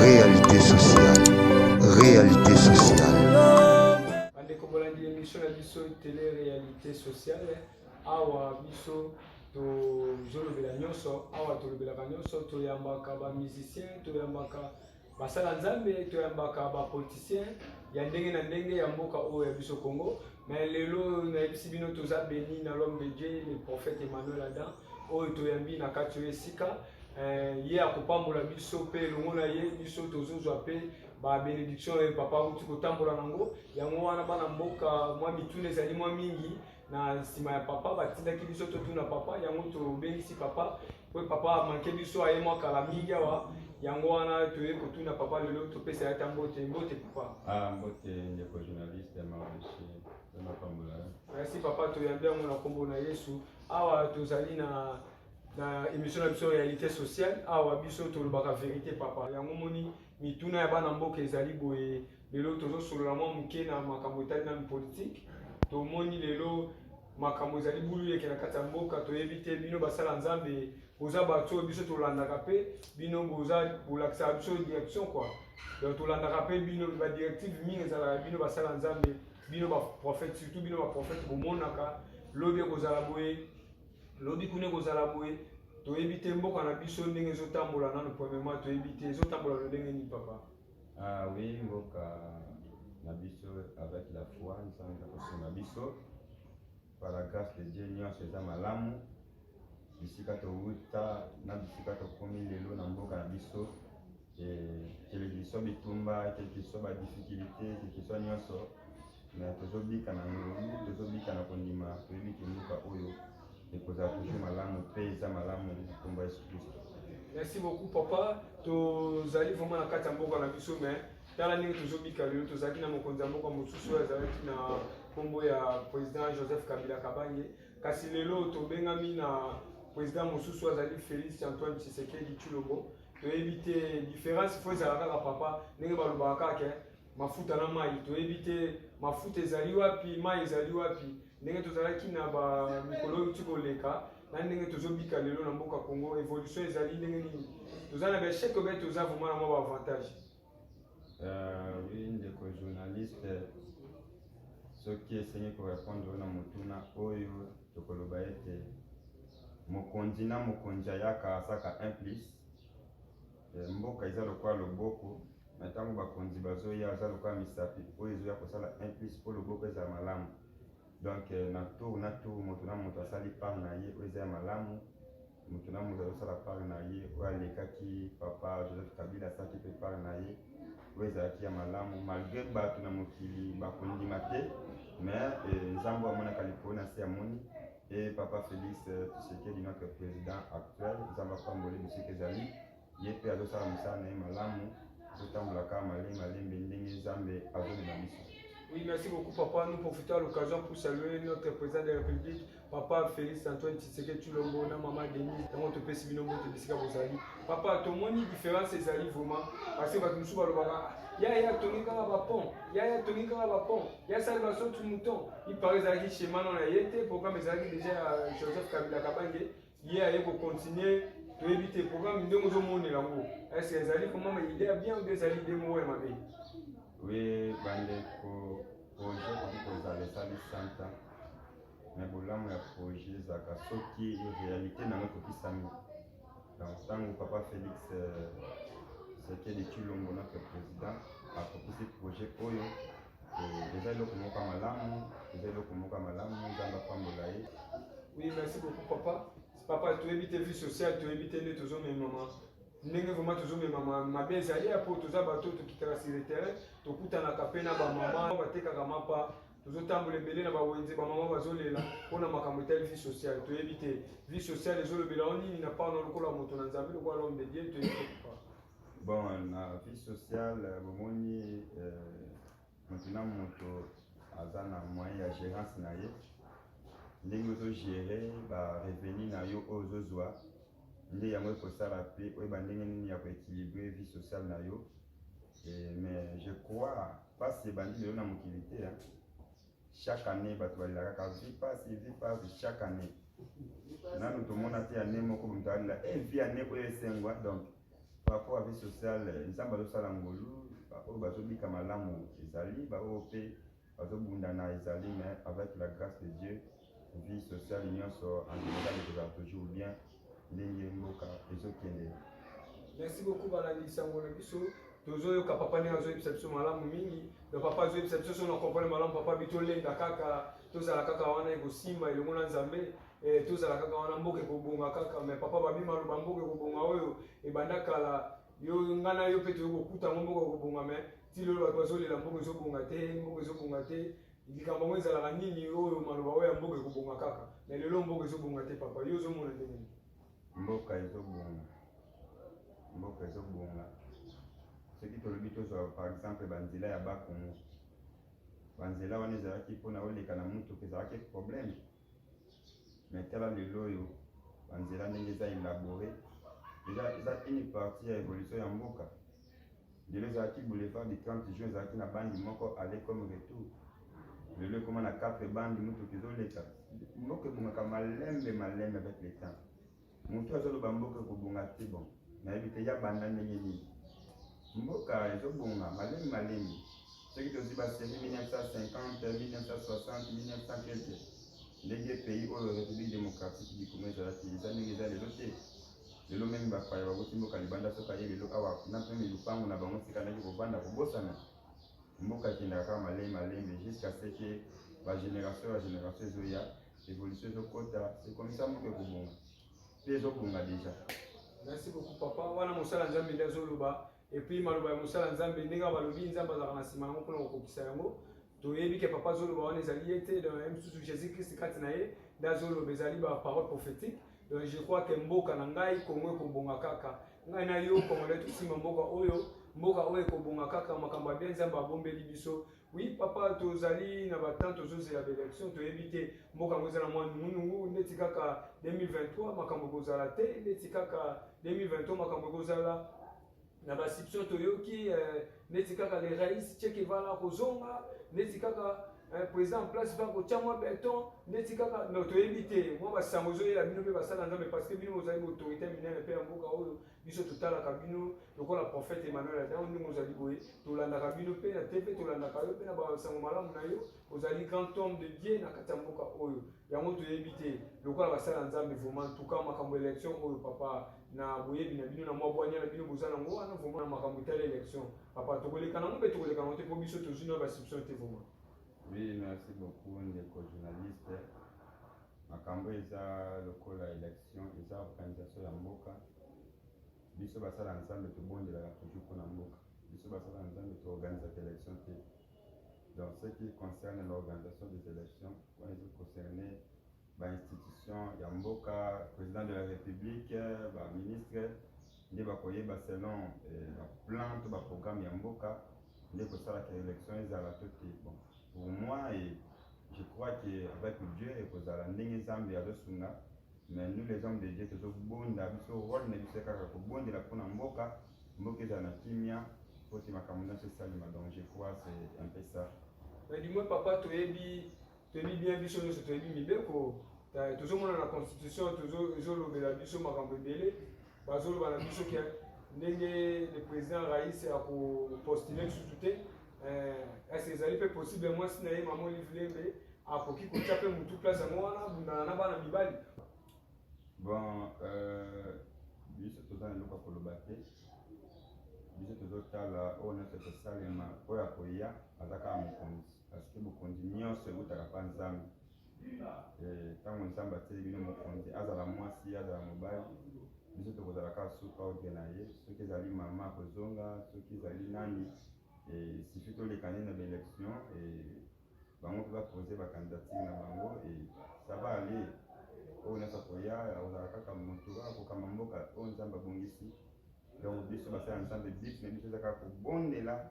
Réalité sociale. Réalité sociale. bandeko bolandi émission na biso tele réalité sociale awa biso tozolobela nyonso awa tolobelaka nyonso toyambaka bamusicien toyambaka basala nzambe toyambaka bapoliticien ya ndenge na ndenge ya mboka oyo ya biso congo mais lelo nayebisi bino toza beni na l'homme de dieu le prophète emmanuel adam oyo toyambi na kati oyo esika eh, ye akopambola biso mpe elongo na ye biso tozozwa mpe babenediction oyo papa auti kotambola nango yango wana bana mboka mwa mituna ezali mwa mingi na nsima ya papa batindaki biso totuna papa yango tobengisi papa mpo papa amanke biso aye mwa kala mingi awa yango wana toye kotuna papa lelo topesa yata mbote mbote papa ah, mbote ndeko journaliste maoshi merci papa toyambi yango na nkombo na yesu awa tozali na na émission na biso réalité sociale awa biso tolobaka vérité papa yango moni mituna ya bana mboka ezali boye lelo tozosolola mwa moke na makambo etali na politique tomoni lelo makambo ezali buluyeke na kati ya mboka toyebi te bino basala nzambe boza bato oyo biso tolandaka mpe bino boza bolakisaka biso direction kua donc tolandaka mpe bino badirective mingi ezalaka bino basala nzambe bino ba prophète surtout bino ba prophète bomonaka lobi ekozala boye lobi kuna ekozala boye toyebi te mboka na biso ndenge ezotambola nano premièrement toyebi te ezotambola lo ndenge nini papa ah oui mboka na biso avec la foi nzambe akosunga biso Par la grace de Dieu nionso eza malamu bisika towuta na bisika tokomi lelo na mboka na biso kelekiswa bitumba kelekiswa ba difficulté kelekiswa nyonso me tozobika na ngolu tozobika na kondima toyebi kimboka oyo ekozala toujours malamu mpe eza malamu na nkombo yesu kristo merci beaucoup papa tozali vraiment na kati ya mboka na biso mais tala ndenge tozobika lelo tozalaki na mokonzi ya mboka mosusu oyo azalaki na nkombo ya président joseph kabila kabange kasi lelo tobengami na président mosusu oyo azali félix antoine tshisekedi tshilombo toyebi te différence fo ezala kaka papa ndenge balobaka kaka ke mafuta na mai toyebi te mafuta ezali wapi mai ezali wapi ndenge tozalaki na bamikolo oyo ti koleka na ndenge tozobika lelo na mboka congo évolution ezali ndenge nini toza na baechec obe toza vraimen na mwa baavantage Uh, oui ndeko journaliste soki esengi korepondre na motuna oyo tokoloba ete mokonzi na mokonzi ayaka asaka un plus eh, mboka eza lokola loboko na ntango bakonzi bazoya aza lokola misapi oyo ezoya kosala un plus mpo loboko ezala malamu donc eh, na tour na tour moto na moto asali part na ye oyo eza ya malamu moto na moto azosala part na ye oyo alekaki papa joseph kabila asalaki mpe part na ye oyo ezalaki ya malamu malgre bato na mokili bakondima te mais eh, nzambe amonaka likolo na se amoni e papa félix eh, tshisekedi notre président actuel nzambe apamboli bisika ezali ye mpe azosala mosala na ye malamu, azotambola kaka malembe malembe ndenge Nzambe azomema biso. Oui, merci beaucoup, papa. Nous profitons à l'occasion pour saluer notre président de la République, papa Félix Antoine Tshisekedi Tshilombo, na maman Denise, dans notre pays, Sibino Mbote, Bissika Bozali. Papa, ton moni différence, c'est Ali vraiment, parce que votre moussou balobara, ya ya toni kaka ba pont, ya ya toni kaka ba pont, ya sali ba sautu mouton. Il paraît Zaki chez Manon la Yete, programme Zaki déjà euh, Joseph Kabila Kabange, ye aye kocontinue toyebi te programme ndenge ozomonela yango ese ezali komama ide ya bien obe ezali ide moko ya mabe wi bandeko projet ekoki kozala esali santa me bolamu ya projet ezalaka soki réalité na yango ekokisami donc ntango papa félix euh, sekeli cilombo notre président akokisi projet oyo Eh, eza eloko moko ya malamu, eza eloko moko ya malamu, Nzambe apambola ye. Oui, merci beaucoup papa. Papa, toyebi te vie sociale, toyebi te nde tozomemama ndenge vraimen tozomemama mabe ezali ya mpo toza bato tokitaka sur le terrain tokutanaka mpe na bamama batekaka mapa tozotambola ebele na bawenze bamama bazolela mpo na makambo etali vie sociale toyebi te vie sociale ezolobela o nini na pano lokola moto na nzambe lokola l'homme de dieu toyebi te papa Bon, na vie sociale, bomoni euh, moto na moto aza na moyen ya gérance na ye ndenge ozogere barevenu na yo oyo ozozwa nde yango ekosala mpe oyeba ndenge nini ya koéquilibre vie sociale na yo mais je crois mpasi ebandi lelo na mokili te Chaque année bato balela kaka vie pasi vie pasi chaque année. Nanu tomona te année moko moto alela eh vie année oyo esengwa donc par rapport à vie sociale eh, Nzambe azosala ngolu baoyo bazobika malamu ezali baoyo mpe bazobunda na ezali mais avec la grâce de Dieu vie sociale nyonso andimekaki kozala toujours bien ndenge mboka ezokende merci beaucoup balandi sango na biso tozoyoka papa ndenge azoyebisa biso malamu mingi na papa azoyebisa biso soki na comprendre malamu papa bi tolenda kaka tozala kaka wana ekosimba elongo na nzambe eh, tozala kaka wana mboka ekobonga kaka me papa babi maloba mboka ekobonga oyo ebanda kala yo nga na yo mpe toyokokutanga mboka ekobonga me ti lelo bato bazolela mboka ezobonga te mboka ezobonga te Likambo yango ezalaka nini oyo maloba oyo ya mboka ekobonga kaka na lelo? Mboka ezobonga te papa, yo ozomona ndenge nini? Mboka ezobonga, mboka ezobonga soki tolobi tozwa par exemple banzela ya bakongo, banzela wana ezalaki mpona oleka na motuka ezalaki problème mais tala lelo oyo banzela ndenge eza elabore eza eza une partie ya évolution ya mboka lelo ezalaki boulevard du 30 juin ezalaki na bandi moko ale comme retour lelo ekoma na 4 bandi motuka ezoleka mboka ebongaka malembe malembe avec le temps Mutu azoloba mboka ekobonga te bon nayebi te ya banda ndenge nini mboka ezobonga malemi malemi soki tozwi baseri 1950 1960 1950 ndenge pays oyo république démocratique du congo ezalaki eza ndenge eza lelo te lelo meme bapaya bakuti mboka libanda soki aye lelo awa na meme lupango na bango tikalaki kobanda kobosana mboka ekendaka kaka malemi malemi jusqu'à ce que bagénération ya génération ezoya Evolution ezokota, ekomisa mutu ekobonga. Pe ezobonga deja. Merci beaucoup papa. Wana mosala Nzambe nde azoloba. Et puis maloba ya mosala Nzambe ndenge balobi Nzambe azalaka na sima yango mpona kokokisa yango. Toyebi ke papa azoloba wana ezali ye te, donc ye mosusu Jésus Christ kati na ye nde azoloba ezali ba parole prophétique. Donc je crois que mboka na ngai Congo ekobonga kaka. Ngai na yo Congolais tosimba mboka oyo mboka oyo ekobonga kaka makambo ya bien nzambe abombeli biso Oui papa tozali na ba temps tozozela ba election toyebi te mboka yango eza na mwa nungunungu ndeti kaka 2023 makambo ekozala te ndeti kaka 2023 makambo ekozala na basiption toyoki eh, ndeti kaka le rais chekevala kozonga ndeti kaka eh, président en place va kotya mwa beton ndeti kaka no toyebi te mwa basango ezoyela bino mpe basala nzambe parce que bino bozali baautorité minene mpe ya mboka oyo biso totalaka bino lokola prophète Emmanuel Adango ndenge ozali boye tolandaka bino pe na TV tolandaka yo pe na basango malamu na yo ozali grand homme de Dieu na kati ya mboka oyo yango toyebi te lokola basala ya Nzambe vraiment en tout cas makambo élection oyo papa na boyebi na bino na mwa bwanya na bino boza nango wana vraiment na makambo etali élection papa tokoleka nango mpe tokoleka nango te mpo biso tozwi na bascription te vraiment oui merci beaucoup ndeko journaliste Makambo eza lokola election eza organisation ya mboka. Biso basala Nzambe tobondelaka toujours mpo na mboka. Biso basala Nzambe to organisaka election te. Donc ce qui concerne l'organisation des élections, wana eza concerne ba institutions ya mboka, président de la république, ba ministres nde bakoyeba selon eh, ba plan to ba programme ya mboka nde kosala ke election ezala to te bon pour moi et eh, je crois que avec Dieu ekozala ndenge Nzambe azosunga mais nous les hommes de Dieu tozobonda biso role na biso kaka kobondela mpo na mboka mboka ezala na kimia mpo te makambo nyonso esalema donc je crois c'est un peu ça mais du moins papa toyebi toyebi bien biso nyonso toyebi mibeko tozomona na constitution ezolobela biso makambo ebele bazoloba na biso ke ndenge le président rais akopostule lisusu te ese eh, ezali mpe possible mwasi na ye mama olive lembe akoki kotya mpe motu place yango wana abundana na bana mibali bon euh, biso toza na eloko ya koloba te biso tozotala oyo nyonso ekosalema oyo akoya aza kaka mokonzi Parce que mokonzi nyonso eutaka mpa Nzambe. Ntango eh, Nzambe atili bino mokonzi, azala mwasi, azala mobali, biso tokozala kaka suka oge na ye. Soki ezali mama akozonga, soki ezali nani, eh, sifi toleka nde na baelection, eh, bango mpe bapose bakandidature na bango, ça va aller. Oyo nyonso akoya, akozala kaka moto akokamba mboka oyo Nzambe abongisi. Donc biso basala Nzambe, but na biso eza kaka kobondela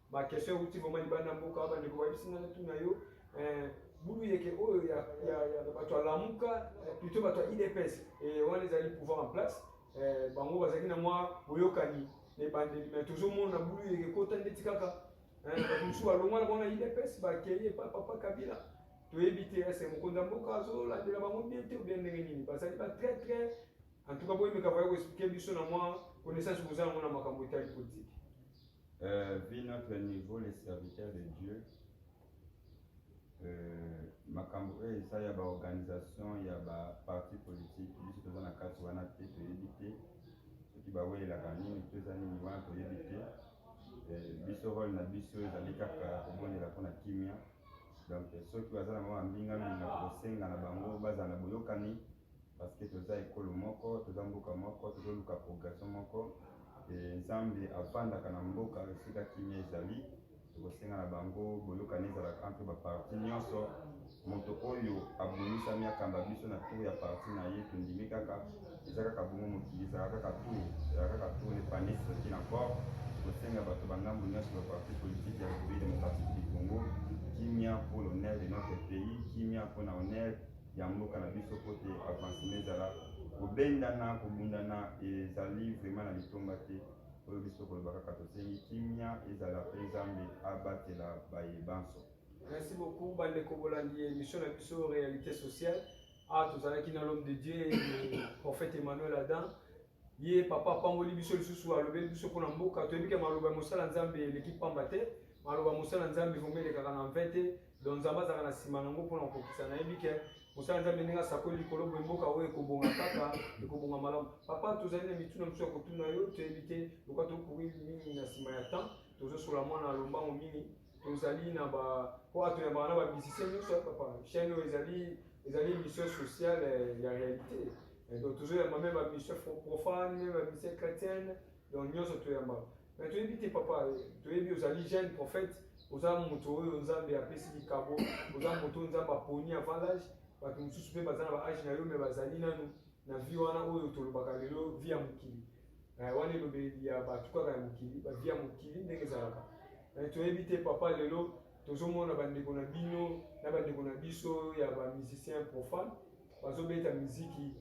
ba question euti vraiment libanda mboka bandeko bayebisi nga natuna yo eh, bulu yeke oyo ya, ya, ya bato ya lamuka eh, plutôt bato ya idps eh, wana ezali pouvoir en place eh, bango bazalaki na mwa boyokani na ebandeli mais tozomona bulu yeke ekota ndeti kaka eh, bato mosusu balongwa na bango na idps bakei epa papa kabila toyebi te ese mokonzi ya mboka azolandela bango bien te obien ndenge nini bazali ba très très en tout cas boyemeka baye koexplike biso na mwa connaissance boza yango na makambo etali politike Euh, vu notre niveau les serviteurs de Dieu euh, makambo oyo eh, eza ya baorganisation ya baparti politique biso toza na kati wana te toyebi te soki bawelelaka nini to eza nini wana toyebi te euh, biso role na biso ezali kaka kobondela mpona kimia donc soki baza na bango bambinga mingi kosenga na bango bazala na boyokani Parce que toza ekolo moko, toza mboka moko, tozo luka progression moko et Nzambe avandaka na mboka esika kimia ezali. Tokosenga na bango boyokani ezala entre ba parti nyonso. Moto oyo abomisami akamba biso na tour ya parti na ye, tondimi kaka. Eza kaka bongo mokili ezala kaka tour, ezala kaka tour le panier se retire encore. Tokosenga bato ba ngambo nyonso ba parti politique ya Republique democratique du Congo kimia pour l'honneur de notre pays, kimia pona honneur ya mboka na biso mpo te avancement ezala kobendana kobundana ezali vraiment na litomba te oyo biso koloba kaka tosengi kimia ezala mpe nzambe abatela baye banso merci beaucoup bandeko bolandi émission na biso réalité sociale awa ah, tozalaki na l'homme de dieu prophète emmanuel adam ye papa apamboli biso lisusu alobeli biso mpo na mboka toyebi ke maloba ya mosala nzambe eleki mpamba te maloba ya mosala nzambe vraimen elekaka na mpe te don nzambe azalaka na nsima na yango mpo na kokokisa nayebi ke mosala nzambe ndenge asakoli likolo boye mboka oyo ekobonga kaka ekobonga malamu papa tozali na mituna mosusu ya kotuna yo toyebi te loka tokoki mingi na nsima ya temps tozosola mwana ya lombango mingi tozali na ba po ato ya bana ba musicien nyonso ya papa chaîne oyo ezali ezali mission sociale eh, ya réalité eh, donc tozoyamba meme ba mission profane meme ba mission chrétienne donc nyonso toyamba mais toyebi te papa eh, toyebi ozali jeune prophète oza moto oyo nzambe apesi likabo oza moto oyo nzambe aponi avant l'age bato mosusu mpe baza na ba age na yo me bazali nanu na vie wana oyo tolobaka lelo vie ya mokili wana elobeli ya bato kaka ya mokili ba vie ya mokili ndenge ezalaka Mais toyebi te papa lelo tozomona bandeko na bino na bandeko na biso ya ba musicien profane bazobeta miziki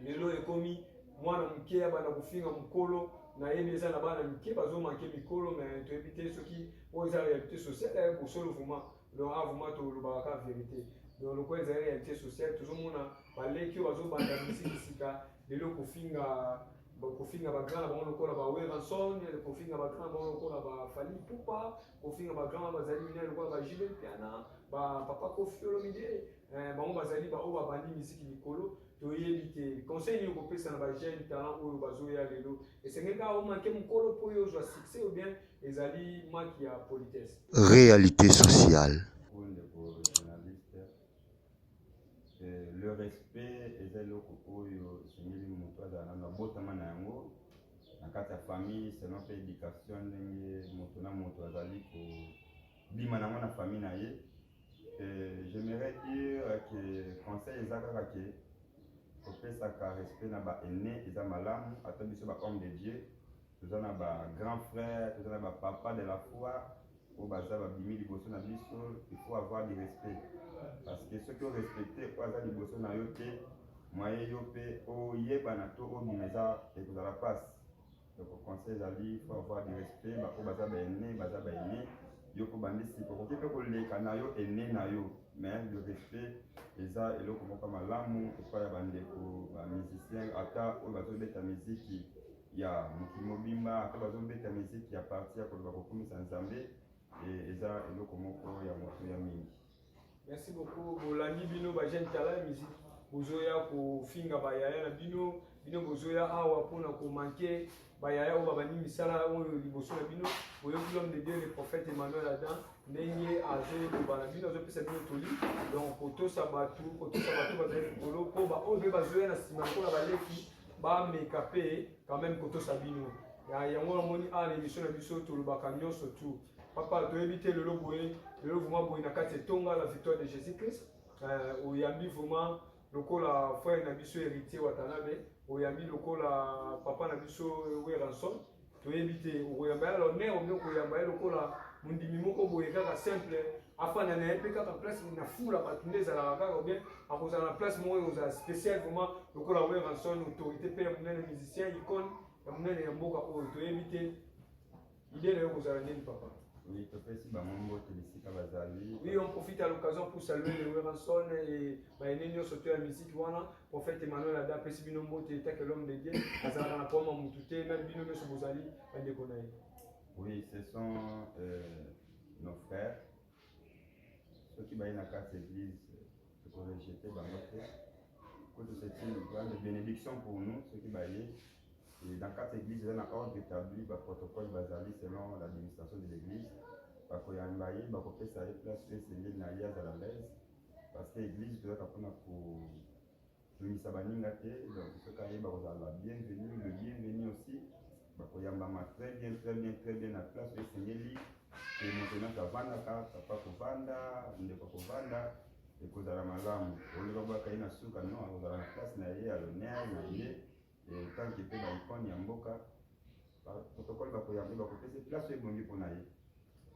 lelo ekomi mwana moke ya bana kofinga mokolo nayebi eza na bana mike bazomake mikolo me toyebi te soki oyo eza réalité sociale ya bosolo vraiment donc awa vraiment tolobaka kaka verité donc lokola ezali réalité sociale tozomona baleki oyo bazobanda misiki sika lelo kofinga kofinga bagrand na bango lokola ba weranson kofinga bagrand na bango lokola ba fali pupa kofinga bagrand bazali minene lokola ba jibe mpiana ba papa kofi olomide eh, bango bazali baoyo babandi misiki likolo toyebi te conseil nini okopesa na bajeune talent oyo bazoya lelo esengeli kaka omake mokolo mpo yo ozwa succès ou bien Ezali maki ya politesse. Realite sociale. le respect eza eloko oyo esengeli moto azala nano abotama na yango na kati ya famille selon mpe éducation ndenge moto na moto azali kobima nango na famille na ye j'aimerais dire que conseil eza kaka ke kopesaka respect na ba aîné eza malamu ata biso ba homme de dieu toza na ba grand frère toza na ba papa de la foi oyo baza babimi liboso na biso il faut avoir du respect parce que soki orespecte oyo aza liboso na yo te mwaye yo mpe oyebana to obima eza ekozala mpasi donc conseil ezali faut avoir du respect baoyo baza baene baza baene yo kobandisi okoki mpe koleka na yo ene na yo mais le respect eza eloko moko malamu epai ya bandeko ba musicien ata oyo bazobeta miziki ya mokili mobimba ata bazobeta miziki ya parti ya koloba kokumisa nzambe e, eza eloko moko ya moto ya mingi merci beaucoup bolandi bino ba jeune tala ya miziki bozoya kofinga bayaya na bino bino bozoya awa mpona komanke bayaya oyo babandi misala oyo liboso na bino boyoki l'homme de dieu le prophète emmanuel adam ndenge azoloba na bino azopesa bino toli donc kotosa bato kotosa bato bazali likolo mpo baoyo mpe bazoya na nsima lokola baleki bameka mpe quand même kotosa bino ya yango namoni awa na émission na biso tolobaka nyonso tout papa toyebi te lelo boye lelo vraiment boye na kati etonga la victoire de jésus christ euh, oyambi vraiment lokola frère na biso héritier watanabe oyambi lokola papa na biso weranson toyebi te okoyamba ye alors mère omi okoyamba ye lokola mondimi moko boye kaka simple afanda na ye mpe kaka place na fula bato nde ezalaka kaka bien akozala na place moko ekozala spécial vraiment lokola weranson autorité mpe ya monene musicien icone ya monene ya mboka oyo toyebi te ide na yo kozala nini papa Oui, topesi bango mbote bisika bazali. Oui, on profite à l'occasion pour saluer les Weranson et baine nyonso to ya musique wana Prophète Emmanuel Ada apesi bino mbote etat que l'homme de Dieu azalaka na problème ya mutu te meme bino nyonso bozali bandeko na ye. Oui, ce sont euh, nos frères soki baye na kati église tokorejete bango te kutu c'est une grande bénédiction pour nous soki baye et dans kati église eza na ordre établi baprotocole bazali selon l'administration de l'église bakoyamba ye bakopesa ye place oyo esengeli na ye azala laise Parce que église toyaka mpona ko tungisa baninga te donc soki aye bakozala ba bienvenu le bienvenu aussi bakoyambama très bien très bien très bien na place oyo esengeli ke moto nyonso avandaka papa kovanda ndeko kovanda ekozala malamu oloba bwaka ye na suka no akozala na place na ye ya lonere na ye eh, tanki mpe ba icone ya mboka protocole bakoyambe bakopesa place oyo ebongi mpo na ye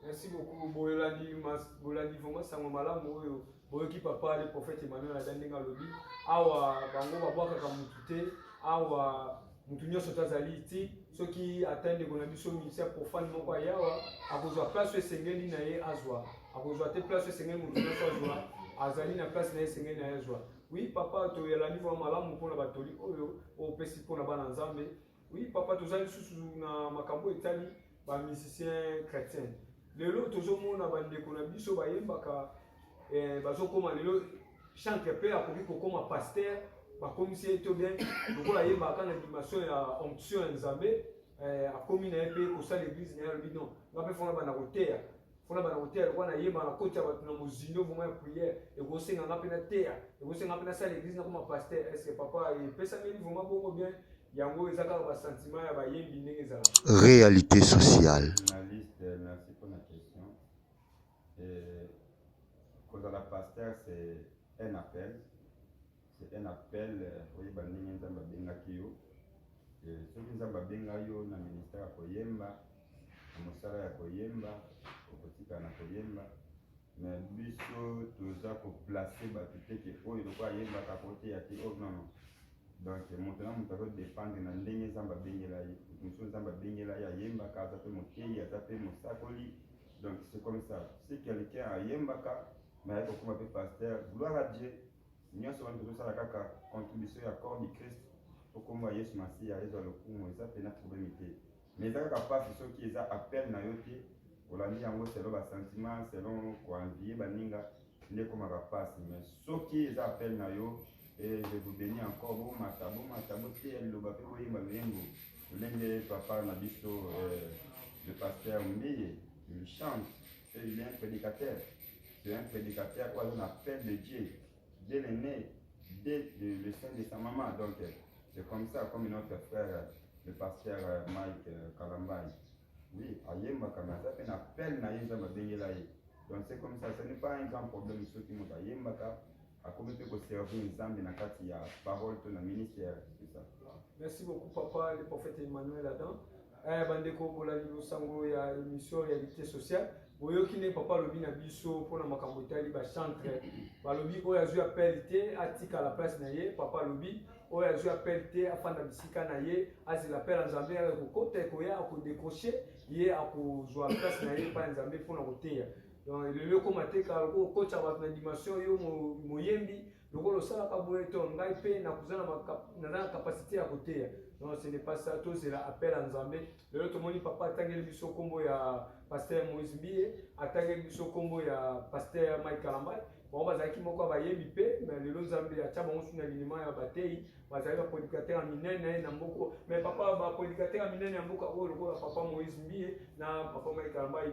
merci beaucoup bolandi bolandi vraiment sango malamu oyo boyoki papa le prophète emmanuel ada ndenge alobi awa bango babwakaka motu te awa motu nyonso to azali ti soki ata ndeko na biso misia profane moko ayawa akozwa place oyo esengeli na ye azwa akozwa te place oyo esengeli motu nyonso azwa azali na place na ye esengeli na ye azwa Oui papa toyelani mwa malamu mpona batoli oyo opesi mpona bana nzambe oui papa toza lisusu na makambo etali bamusicien chrétien lelo tozomona bandeko na biso bayembaka eh, bazokoma lelo chantre mpe akoki kokoma paster bakomisi ye to bien lokola ayembaka na dimension ya onction ya nzambe eh, akomi na ye mpe kosala eglise na ye alobi non nga mpe fona banda koteya mpona bana koteya lokola nayeba na koti ya bato na mozindo vraimen ya prière ekosenga nga mpe nateya ekosenga mpe nasala église nakoma pasteur est ce que papa epesameli vraimen bongo bien yango eza kaka basentiment ya bayembi ndenge ezala réalité sociale kozala pasteur c'est un appel C'est un appel oyeba ndenge Nzambe abengaki yo. Eh, soki Nzambe abenga yo na ministère ya koyemba, na mosala ya koyemba, okotika na koyemba. Mais biso toza ko placer bato te ke oyo lokola ayembaka koteya te oh non non. Donc moto na moto azo dépendre na ndenge Nzambe abengela ye. Mosusu Nzambe abengela ye ayembaka, aza pe moteyi, aza pe mosakoli. Donc c'est comme ça. Si quelqu'un ayembaka, mais ayeko kuma pe pasteur, gloire à Dieu. Nionso wana tozosala kaka contribution ya corps du Christ po kombo ya Yesu Masiya ezwa lokumu, eza pena probleme te. Mais eza kaka pasi soki eza appel na yo te, olandi yango selon ba sentiments, selon ko envier baninga nde ekomaka pasi. Mais soki eza appel na yo et je vous bénis encore, bomata bomata, boteya liloba pe boyemba loyembo lolenge papa na biso eh, le pasteur Mbiye il chante Et il est un prédicateur. C'est un prédicateur oyo aza na appel de Dieu. Dieu le né, dès le, le sein de sa maman. Donc, euh, c'est comme ça, comme notre frère, euh, le pasteur euh, Mike euh, Kalambay. Oui, ayembaka mais aza mpe na appel na ye nzambe abengela ye. Donc c'est comme ça, ce n'est pas un grand problème soki moto ayembaka akomi mpe koservir nzambe na kati ya parole to na ministère eza merci beaucoup papa le prophète emmanuel adam eh, bandeko bolandi losango ya émission réalité sociale boyoki nde papa alobi na biso mpona makambo etali bachantre balobi oyo azwi appel te atikala place na ye papa alobi oyo azwi appel te afanda bisika na ye azela appel ya nzambe yaka kokota ekoya akodekroche ye akozwa place na ye epai ya nzambe mpona koteya donc lelo ekoma te kala lokola okotisa bato na dimension yo moyembi lokola osalaka boye to ngai mpe naza na capacité ya koteya non ce n'est pas ça tozela appel ya nzambe lelo tomoni papa atangeli biso nkombo ya paster moïse mbiye atangeli biso nkombo ya paster mike kalambai bango bazalaki moko ya bayembi mpe me lelo nzambe atya bango suna linima ya bateyi bazali bapredikatere ya minene na mboka me papa bapredikatere ya minene ya mboka oyo lokola papa moïse mbie na papa maikalambai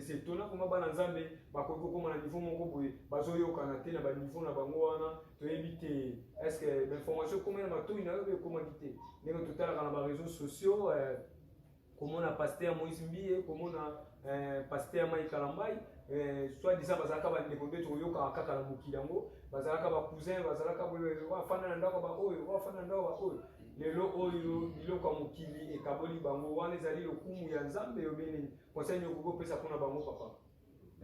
setona koma bana nzambe bakoki kokoma na niveau moko boye bazoyokana te na baniveau na bango wana toyebi te estce bainformation ekoma na matoi na yo ekomaki te ndenge totalaka na bareseau sociaux eh, komona pasteur moïse mbiye komona eh, pasteur mai kalambai eh, soit disant bazalaka bandeko nde tokoyokaka kaka na mokili yango bazalaka bacousin bazalaka wafanda na ndako baoyo wafanda na ndako baoyo lelo oyo biloko ya mokili ekaboli bango wana ezali lokumu ya nzambe yo benini conseil nini okoki kopesa mpona bango papa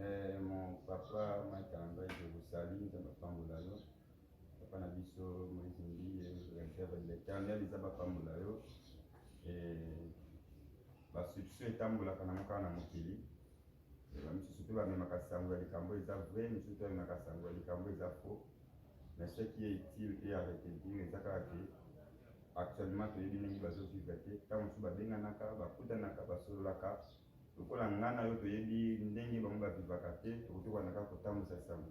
eh, mon papa mai kalambai je vous salut nzambe apambola yo Papa na biso Moïse Mbiye, directeur de l'Éternel, ils ont pambola yo. Et ba substitution etambolaka na mokana na mokili. Ba misusu pe ba memaka sango ya likambo eza vrai, misusu pe memaka sango ya likambo eza faux. Mais ce qui est utile et avec le dire eza kaka que actuellement toyebi ndenge bazo vivre te. Tant mosusu babenganaka, bakutanaka, basololaka Lokola nga na yo toyebi ndenge bango ba vivaka te, tokoki wana kaka kotambusa sango.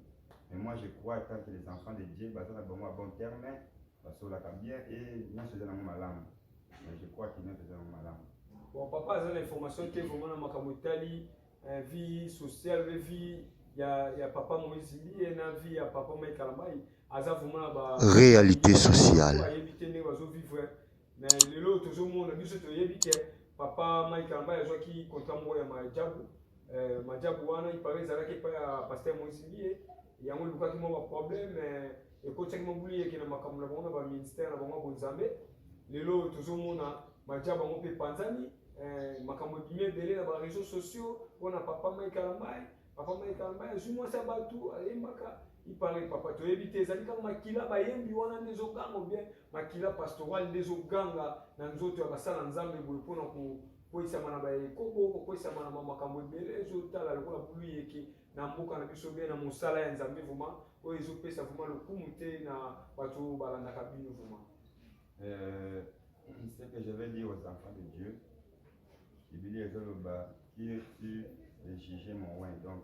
Mais moi je crois tant que les enfants de Dieu baza na bango à bon terme, basolaka bien et nyonso eza nango malamu. Mais je crois que nyonso eza nango malamu. Bon papa aza na information te vraiment na makambo etali eh, vie sociale vie ya, ya papa Moïse Mbiye na vie ya papa Mike Kalambayi aza vraiment na ba réalité sociale. Ayebi te ndenge bazo vivre Mais lelo tozo mona biso toyebi ke papa Mike Ambaye azwaki contrat moko ya Majabu euh, Majabu wana il paraît ezalaki epai ya pasteur Moïse Mbiye yango elukaki mwa baproblème euh, ekotisaki mwa buliyeke na makambo na bango na baministère na bango ya bonzambe lelo tozomona Majabu yango mpe epanzani euh, makambo ebimi ebele na bareseau sociaux mpo na papa Mike Ambaye papa Mike Ambaye azwi mwasi ya bato ayembaka ipare papa toyebi te ezali kaka makila bayembi wana nde ezoganga bien Makila pastoral nde ezoganga na nzoto ya basala Nzambe boye mpo na kokweisama na baekobo, kokweisama na makambo ebele ezotala lokola buluyeke na mboka na biso bien na mosala ya Nzambe vraiment oyo ezopesa vraiment lokumu te na bato oyo balandaka bino vraiment. Euh, ce que je vais dire aux enfants de Dieu, Biblia ezoloba qui es-tu de juger mon oint donc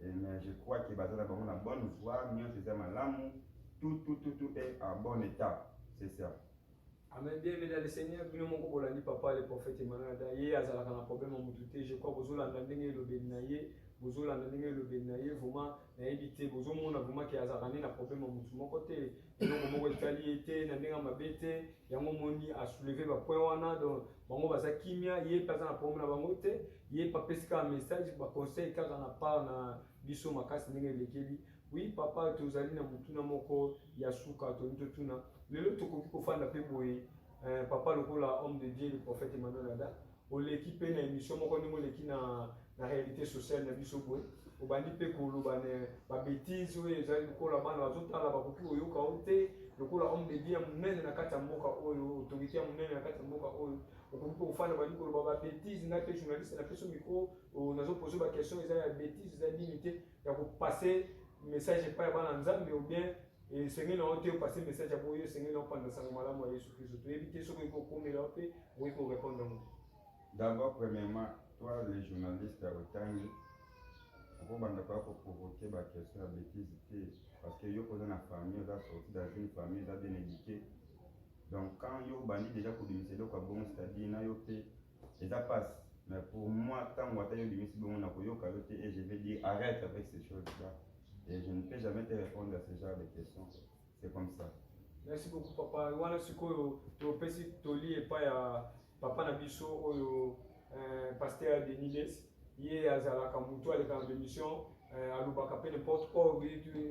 Eh, mais je crois que baza na bango na bonne voie nyonso eza malamu tout tout tout tout est en bon état c'est ça amen bien aimé dans le seigneur bino moko bolandi papa le prophète emmanuel da ye azalaka na problème ya motu te je crois bozolanda ndenge elobeli na ye bozolanda ndenge elobeli na ye vraiment nayebi te bozomona vraiment ke azalaka nde na problème ya motu moko te eloko moko etali ye te na ndenge ya mabe te yango omoni asouleve bapoint wana donc bango baza kimia ye mpe aza na problème na bango te ye mpe apesi kaka message baconseil kaka na part na biso makasi ndenge elekeli oui papa tozali na motuna moko ya suka tolingi totuna lelo tokoki kofanda mpe boye eh, papa lokola homme de dieu le prophète emmanuel ada oleki mpe na emission moko ndenge oleki na na réalité sociale na biso boye obandi mpe koloba na babetise oyo ezali lokola bana bazotala bakoki koyoka yo te lokola homme de Dieu ya monene na kati ya mboka oyo autorité ya monene na kati ya mboka oyo okoki mpe kofanda bandi koloba babetise ngai mpe journaliste na peso micro nazopose baquestion eza ya betise eza nini te ya kopase message epai ya bana nzambe ou bien esengeli na yo te opase message ya boye esengeli na opanza sango malamu ya yesu kristo toyebi te soki ekokomela yo mpe okoki korepondre yango d'abord premièrement toi le journaliste ya otangi okobanda koya koprovoke baquestion ya bétise te parce que yo koza na famille oza sorti dans une famille eza bien éduqué donc quand yo obandi déjà kobimisa eloko ya bongo c'est-à-dire na yo mpe Eza pasi mais pour moi tango ata yo obimisi bongo na koyoka yo te et je vais dire arrête avec ces choses là et je ne peux jamais te répondre à ce genre de questions c'est comme ça merci beaucoup papa wana sikoyo topesi toli epai ya papa na biso oyo euh, pasteur deniles ye azalaka motu aleka na bemission euh, alobaka mpe n'importe or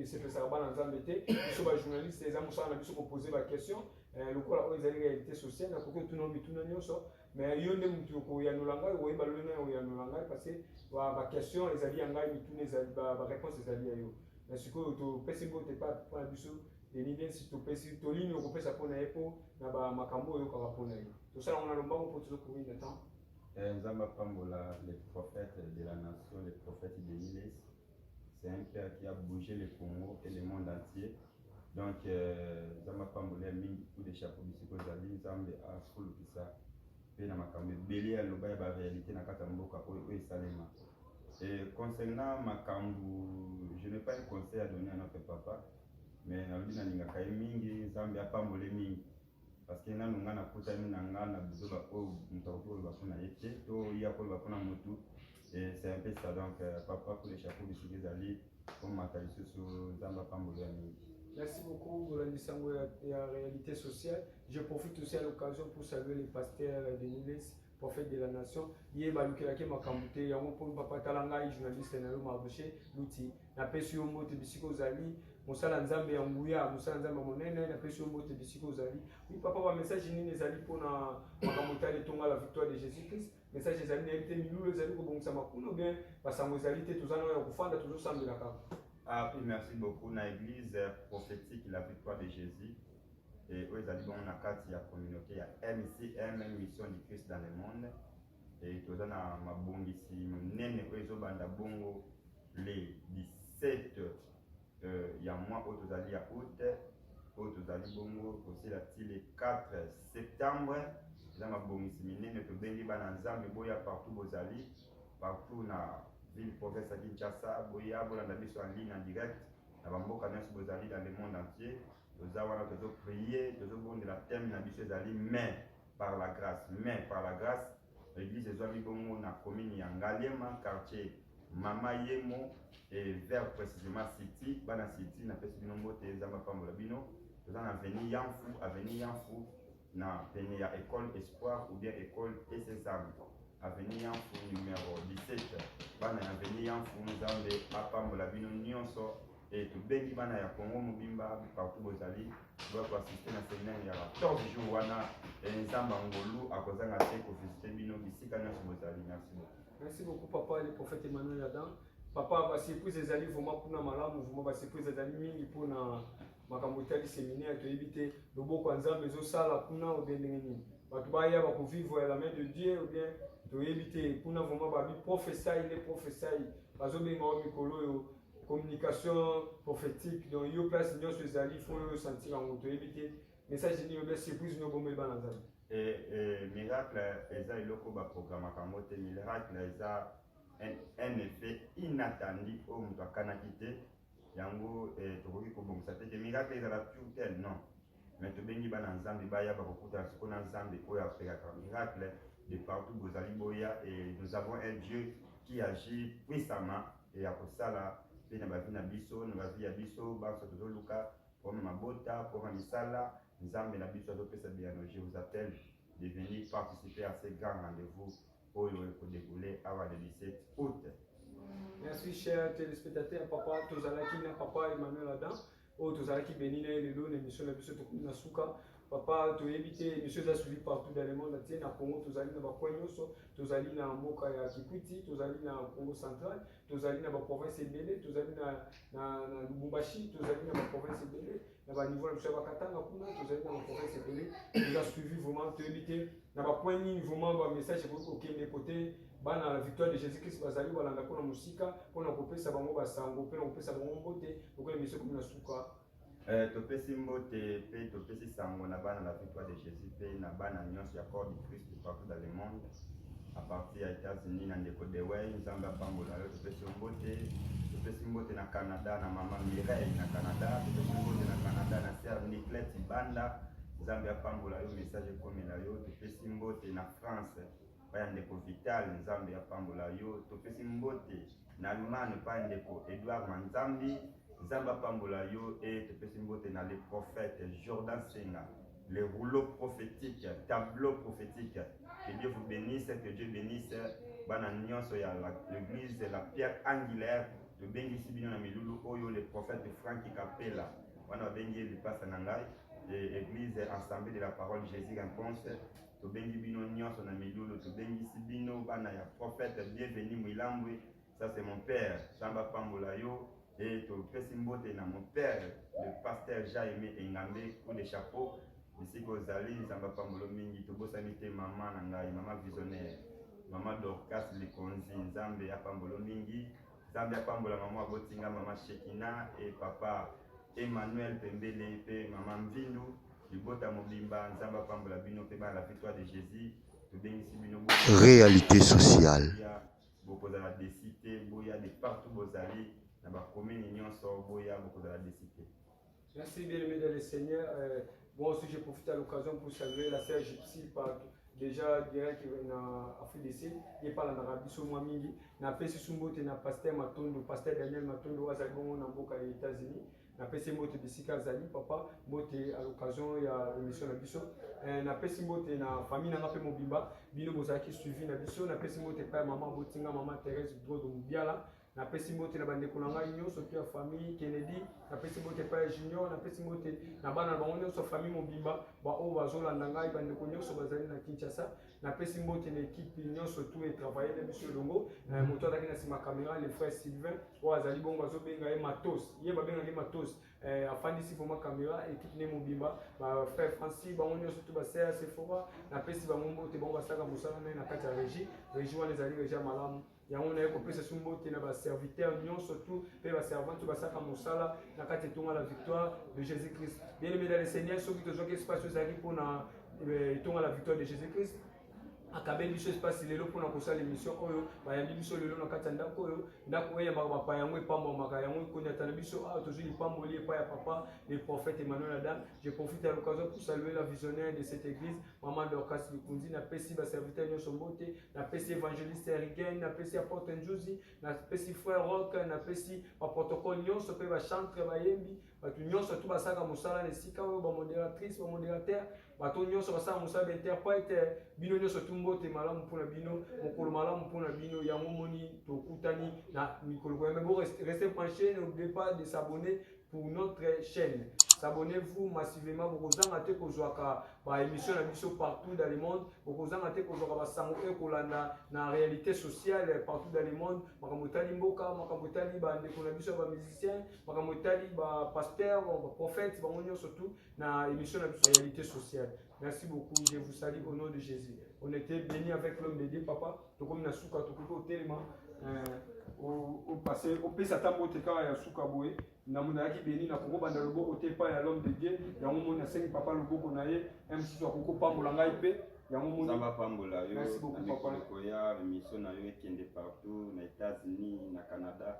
esepesaka bana nzambe te biso bajournaliste eza mosala na biso kopose baquestion Eh, lokola oyo ezali réalité sociale nakoki otuna mituna nyonso mais yo nde motu okoyanola ngai okoyeba lolenge ya koyanola ngai parce que baquestion ezali ya ngai mituna ezali baréponse ezali ya yo mais sikoyo topesi mbote epa mpo na biso denis densi topesi tolini okopesa mpo na ye mpo na bamakambo oyo oyokaka mpo na ye tosala yango na lombango mpo tozokomi na temps eh, nzambe apambola le prophète de la nation le prophète denis c'est un père qui a bougé le Congo et le monde entier donc euh, nzambe apambola ya mingi coup de chapeau bisika ozali nzambe afulukisa mpe na makambo ebele ya loba ya baréalité na kati ya mboka oyo oyo esalema et concernant makambo je n'ai pas un conseil à donner à notre papa mais nalobi nalingaka ye mingi nzambe apambole mingi parce que nanu nga nakutani na nga na buzoba oyo moto akoki koloba mpo na ye te to ye akoloba mpo na motu c'est un peu ça donc euh, papa pour le chapeau bisiki ezali komata lisusu nzambe apamboli ya mingi Merci beaucoup, Bolandi Sango et la réalité sociale. Je profite aussi à l'occasion pour saluer les pasteurs de Niles, prophète de la nation ye balukelaki makambo te yango mpo papa tala ngai journaliste na yo marushe luti napesi yo mbote bisika ozali mosala nzambe ya nguya mosala nzambe ya monene napesi yo mbote bisika ozali wi papa bamessage nini ezali mpo na makambo etali etonga la victoire de jésus christ message ezali nayebi te milulu ezali kobongisama kuna bien basango ezali te toza nayo ya kofanda tozosambela kaka ah, merci beaucoup na église prophétique la victoire de jésus e oyo ezali bongo na kati ya communauté ya MCM Mission du Christ dans le monde e toza na mabongisi monene oyo ezobanda bongo le 17 euh, ya mwa oyo tozali ya août oyo tozali bongo kosila ti le 4 septembre eza mabongisi minene tobengi bana nzambe boya partout bozali partout na ville province ya kinshasa boya bolanda biso en ligne en direct na bamboka nyonso bozali dans le monde entier Toza wana tozo prier, tozo bondela thème na biso ezali mais par la grâce, mais par la grâce L'église ezwami bongo na commune ya Ngaliema, quartier Mama Yemo et vers précisément City, bana City na pesi bino mbote, Nzambe apambola bino. Toza na avenue Yamfu, avenue Yamfu na pene ya ecole Espoir ou bien ecole ESSAM avenue Yamfu numero 17 bana ya avenue Yamfu Nzambe apambola bino nyonso e tobengi bana ya Congo mobimba partout bozali boya koasiste na seminaire ya 14 jour wana e Nzambe ngolu akozanga te kovisite bino bisika nyonso bozali merci beaucoup merci beaucoup papa le prophète Emmanuel Adam papa ba surprise ezali vraiment kuna malamu vraiment ba surprise ezali mingi mpona makambo etali seminaire toyebi te loboko ya nzambe ezosala kuna obie ndenge nini bato baya bakovivre la main de dieu obie toyebi te kuna vraiment babi profesai nde profesai bazobenga o mikolo oyo communication prophétique donc yo place nyonso ezali fo yo osentir yango toyebi te message nini obie surprise nio bomoi bana nzambe eh, eh, miracle eza eloko baprogramaka yango te miracle eza un effet inattendu oyo moto akanaki te yango eh, tokoki kobongisa te ke miracle ezala pure tel non mais tobengi bana nzambe baya bakokutana siko na nzambe oyo apekaka miracle de partout bozali boya et nous avons un dieu qui agit puissamment et ya kosala mpe na bavi na biso na bavi ya biso banso tozoluka mpoma mabota mpoma misala nzambe na biso azopesa biyano je vous appelle de venir participer à ce grand rendez-vous oyo ekodekoule awa le 17 août merci cher téléspectateur papa tozalaki na papa emmanuel adam oyo tozalaki beni na ye lelo na émission na biso tokomi na suka papa toyebi te émission eza suivi partout dans le monde atie na congo tozali na bacoin nyonso tozali na mboka ya kikwiti tozali na congo central tozali na baprovince ebele tozali na, na, na lubumbashi tozali na baprovince ebele na ba niveau na biso ya bakatanga kuna tozali na baprovince ebele toza suivi vraiment toyebi te na bapoint nini vraiment bamessage ekoki kokende kote bana la victoire de jésus christ bazali balanda mpona mosika mpona kopesa bango basango mpe na kopesa bango mbote lokola emisio ekomi na suka Euh, topesi mbote mpe topesi sango na bana la victoire de jésus mpe na bana nyonso ya corps du christ partout dans le monde à partir ya États-Unis na ndeko Dewey Nzambe apambola yo topesi yo mbote topesi mbote na Canada na mama Mireille na Canada topesi mbote na Canada na sœur Niclette Banda Nzambe apambola yo message ekomela yo topesi mbote na France pa ya ndeko Vital Nzambe apambola yo topesi mbote na Allemagne pa ya ndeko Edouard Manzambi Nzambe apambola yo e topesi mbote na le prophète Jordan Senga le rouleau prophétique, tableau prophétique. Que Dieu vous bénisse, que Dieu bénisse bana nyonso ya l'église la pierre angulaire tobengisi bino na milulu oyo le prophète frank kapela wana babengi ye lipasa na ngai église assemblée de la parole jésus réponse tobengi bino nyonso na milulu tobengisi bino bana ya prophète bienvenu mwilambwe Ça c'est mon père, Samba Pambola yo et topesi mbote na mon père le pasteur Jaime Engambe coup de chapeau bisika ozali Nzambe apambolo mingi tobosani te mama na ngai mama visionnaire mama Dorcas Likonzi Nzambe apambolo mingi Nzambe apambola mama abotinga mama Shekina et papa Emmanuel Pembele pe mama Mvindu libota mobimba Nzambe apambola bino pe bana la victoire de Jésus tobengisi bino réalité sociale bokozala desi te boya de partout bozali na bakomini nyonso boya bokozala desi te merci bien aimé dans le seigneur euh, moi aussi je profite à l'occasion pour saluer la sœur gypsy par déjà direct na afrique du sud ye palandaka biso mwa mingi napesi su mbote na pasteur matondo pasteur daniel matondo azali bongo na mboka ya états-unis napesi mbote bisika azali papa mbote à l'occasion ya émission na biso eh, napesi mbote na famille nanga mpe mobimba bino bozalaki suivi na biso napesi mbote epai ya mama botinga mama therese drodo mobiala napesi mbote na bandeko na ngai nyonso mpe ya famille kennedy napesi mbote epai ya junior napesi mbote na bana na bango nyonso famille mobimba baoyo bazolanda ngai bandeko nyonso bazali na kinshasa napesi mbote na ekipe nyonso tu etravaille na biso elongo eh, moto azalaki na nsima camera le frère sylvain oyo azali bongo azobenga ye matos ye babengaki matos eh, afandisi vraimen camera ekipe ne mobimba bafrère franci bango nyonso tu baseya sefora napesi bango mbote bango basalaka mosala naye na kati ya régie régie wana ezali régie ya malamu yango naye kopesa su mbote na baserviteur nyonso tu mpe baservante basaka mosala na kati etonga la victoire de jésus christ bien aimé dans le seigneur soki tozwaki espace oyo ezalaki mpo na eh, etonga la victoire de jésus christ akabeli biso espace lelo mpona kosala émission oyo bayambi biso lelo na kati ya ndako oyo ndako oyo eyambaka bapa yango epambwamaka yango ekonyata na biso awa tozwi lipamboli epai ya papa le prophète emmanuel adam je profite ya l'occasion pour saluer la visionnaire de cette église Maman Dorcas Likunzi, na pesi ba serviteur nyoso mbote, na pesi evangeliste Erigen, na pesi apôtre Njuzi, na pesi frère Rock, na pesi ba protocole nyoso pe ba chantre ba yembi, bato nyoso tu basaka musala na esika oyo ba modératrice, ba modérateur, bato nyoso basaka musala ba interprète, bino nyoso tu mbote malamu pona bino, mokolo malamu pona bino, yango moni tokutani na mikolo koyamba bo rester penché, n'oubliez pas de s'abonner pour notre chaîne s'abonnez-vous massivement bokozanga te kozwaka baémission na biso partout dans le monde bokozanga te kozwaka basango oyo ekolanda na réalité sociale partout dans le monde makambo etali mboka makambo etali bandeko na biso ya bamusicien makambo etali bapaster baprophète bango nyonso tout na émission na biso réalité sociale merci beaucoup je vous salue au nom de jésus on était béni avec l'homme de dieu papa tokomi na suka tokoki kotelema opase eh, opesa ata mbote kaka ya suka boye na monalaki beni na kokobanda loboko te epai ya l'homme de dieu yango moni nasengi papa loboko na ye msusu akoki kopambola ngai mpe yango monizamba apambola yo na mikolo ekoya emission na yo ekende partout na états-unis na canada